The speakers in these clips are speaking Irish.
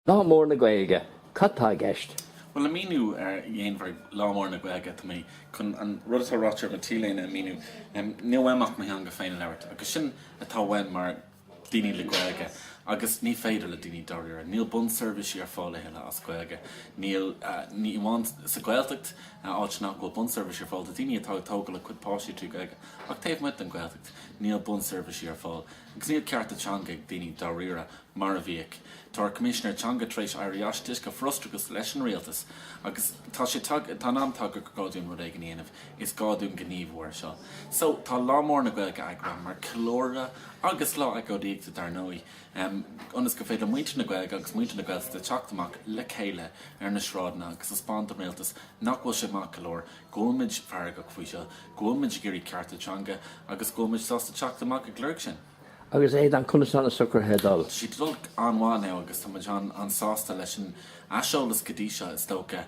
Lá Mór na Gaeilge, cad tá i gceist? Bhuel, le míniú ar dhéanmhar Lá Mór na Gaeilge, tá mé chun an rud atá ráite ar mo T-léine a mhíniú. Níl uaim ach mo theanga féin a labhairt, agus sin atá uainn mar daoine le Gaeilge, agus ní féidir le daoine dáiríre. Níl bunseirbhísí ar fáil a thuilleadh as Gaeilge. Níl, ní amháin sa Gaeltacht, áit nach bhfuil bunseirbhísí ar fáil do daoine atá ag tógail a cuid páistí trí Gaeilge, ach taobh amuigh den Gaeltacht, níl bunseirbhísí ar fáil, agus níl cearta teanga ag daoine dáiríre. mar a bhíodh. Tá ár Coimisinéir Teanga tar éis éirí as de dheasca frustrachas leis an Rialtas agus tá sé tagtha, tá an am tagtha go gá dúinn rud éigin a dhéanamh, is gá dúinn gníomhú ar seo. So, tá Lá Mór na Gaeilge eagraithe mar ceiliúradh agus lá agóidíochta dar ndóigh, ionas go féidir muintir na Gaeilge agus muintir na Gaeltachta teacht amach le chéile ar na sráideanna agus taispeáint don Rialtas nach bhfuil sé maith go leor, go bhfuilimid feargach faoi seo, go bhfuilimid ag iarraidh cearta teanga agus go bhfuilimid sásta teacht amach ag lorg sin. Agus Aodán, conas tá na socruithe ag dul? Tá sé ag dul an-mhaith now agus tá muid an-sásta leis an aiseolas go dtí seo, is dócha.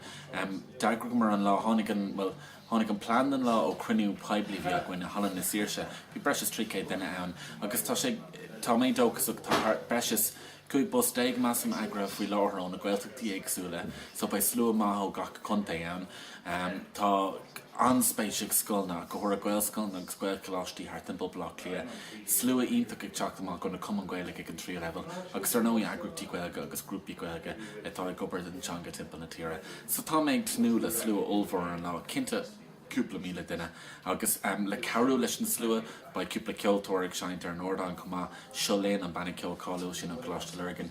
D'eagraíomar an lá, tháinig an, bhuel, tháinig an plean don lá ó chruinniú poiblí a bhí againn in Halla na Saoirse, bhí breis is 300 duine ann agus tá sé, tá mé dóchasach, tá thart, breis is, 15 bus measaim eagraithe faoi láthair ó na Gaeltachtaí éagsúla so beidh slua maith ó gach contae ann. Tá an-spéis ag scoileanna, go háirithe Gaelscoileanna agus Gaelcholáistí thart timpeall Bhaile Átha Cliath. Slua iontach ag teacht amach ó na Cumainn Gaeilge ag an tríú leibhéal agus ar ndóigh eagraíochtaí Gaeilge agus grúpaí Gaeilge atá ag obair don teanga timpeall na tíre. So tá mé ag tnúth le slua ollmhór ar an lá, cinnte. cúpla míle duine. Agus le cabhrú leis an slua, beidh cúpla ceoltóir ag seinnt ar an ardán chomh maith, Seo Linn, an banna ceoil cáiliúil sin ó Coláiste Lurgan,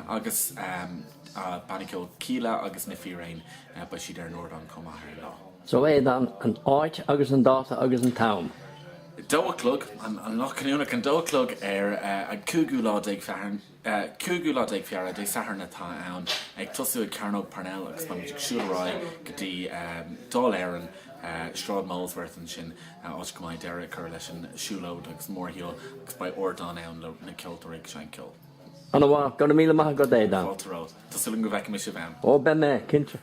agus banna ceoil Kíla agus Na Fíréin, beidh siad ar an ardán chomh maith ar an lá. So Aodán an áit agus an dáta agus an t-am. Dó a chlog, an Ghloch Chuimhneacháin, an dó a chlog ar an cúigiú lá déag Feabhra. Cúigiú lá déag Feabhra, Dé Sathairn atá ann, ag tosú ag Cearnóg Parnell agus beimid ag siúl ar aghaidh go dtí Dáil Éireann, Sráid Molesworth ansin, áit go mbeidh deireadh á chur leis an siúlóid agus mórshiúl agus beidh ardán ann le na ceoltóirí ag seinnt ceol. An-mhaith. Go raibh míle maith agat Aodán. Fáilte romhat. Tá súil agam go bhfeicfimid sibh ann. Ó beidh mé, cinnte.